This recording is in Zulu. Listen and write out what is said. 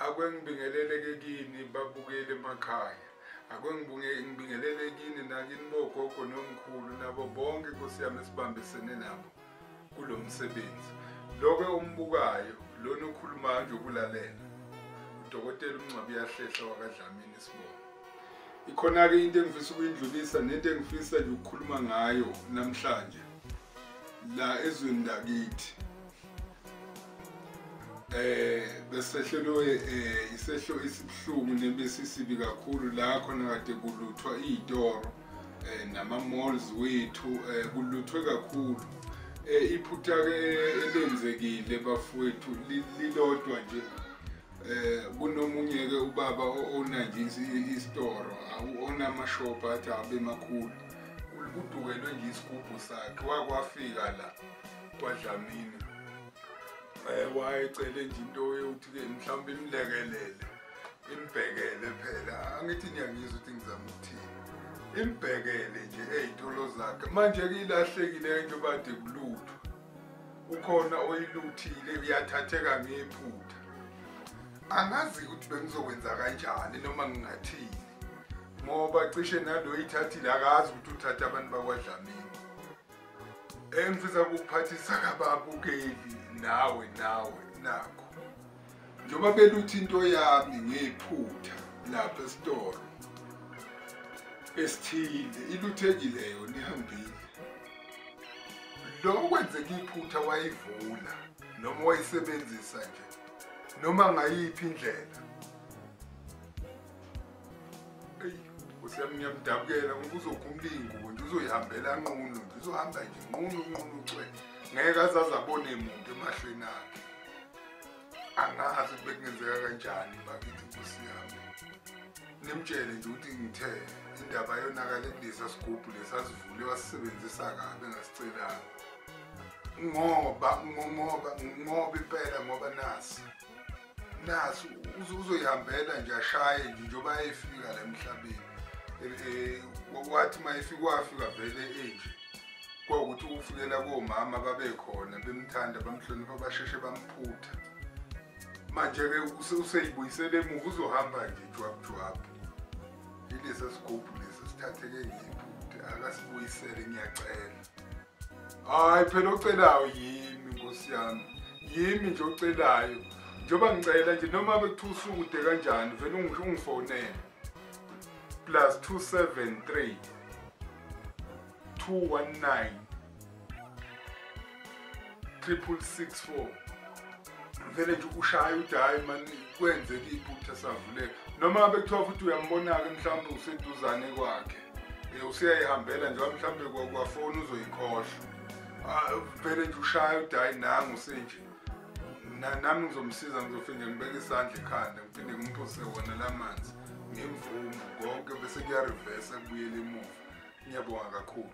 akwengibingelele ke kini babukeli emakhaya akwengibingelele kini nakini bogogo nomkhulu nabo bonke nkosi yami esibambisene nabo kulo msebenzi loke ombukayo lona okhulumayo nje ukulalela udokotela umncwabi uyahlehla wakadlamini isibongo ikhona-ke into engifisa ukuyindlulisa nento engifisa nje ukukhuluma ngayo namhlanje la ezweni lakithi eh besehlelwe eh isehlo esibuhlungu nebesisibi kakhulu la khona kade kuluthwa izitoro eh nama malls wethu eh kuluthwe kakhulu eh iphutha ke eh, elenzekile bafowethu lilodwa nje eh kunomunye ke ubaba oona nje isitoro awuona amashop athi abe makhulu kudukelwe nje isigubhu sakhe wakwafika la kwadlamini um wayecele nje into yokuthi-ke mhlawumbe imlekelele imbhekele phela angithi niyangizwa ukuthi ngizama ukuthini imbhekele nje ey'tolo zakhe manje-ke ilahlekile into bade kulutho ukhona oyiluthile uyathatheka ngephutha angazi ukuthi bengizokwenza kanjani noma ngingathini ngoba cishe nalo ithathile akazi ukuthi uthathe abantu bakwadlamini engifisa ukuphathisa kababukeli nawe nawe nakho njengoba beluthi into yami ngiyiphutha lapha esitolo esithile iluthekile yona ihambile lo okwenzeka iphutha wayivula noma wayisebenzisa nje noma ngayiphi indlela eyi nkosi yami ngiyamdabukela ngoba uzokhumula iy'ngubo nje uzoyihambela nqunu nje uzohamba nje nqunu nqunu cwe ngeke azaze abone muntu emahlweni akhe angazi ukuthi bekungenzeka kanjani bakithi nkosi yami nimtshele nje ukuthi ngithe indaba yonakale kulesa sigubhu lesasivule wasisebenzisa kabi engasicelanga ngoba ngoba ngoba impela ngoba nasi naso uzoyihambela nje ashaye nje njengoba ayefika la emhlabeni um wathi uma efika wafika vele enje kwawukuthi ukufikela komama babekhona bemthanda bamhlonipha basheshe bamphutha manje-ke useyibuyisele emuva uzohamba nje jwabujwabhu ilesa sigubhu lesi sithatheke ngiphuthe akasibuyisele ngiyacela hayi phela ocelayo yimi nkosi yami yimi nje ocelayo njengoba ngicela nje noma bekuthiwa usukude kanjani vele ungifonele plus 273 219 triple six four vele nje ushaya uthi hhayi mani kwenzeka iphutha savuleka noma bekuthiwa futhi uyambona-ke mhlawumbe useduzane kwakhe um useyayihambela njengoba mhlawumbe kwafoni uzoyikhohlwa ah, vele nje ushaya uthi hhayi nangu senje nami ngizomsiza ngizofike ngibeke isandla ekhanda ngiphinde ngimphose wona la manzi ngemvumo konke bese kuyarivesa kubuyela emuva ngiyabonga kakhulu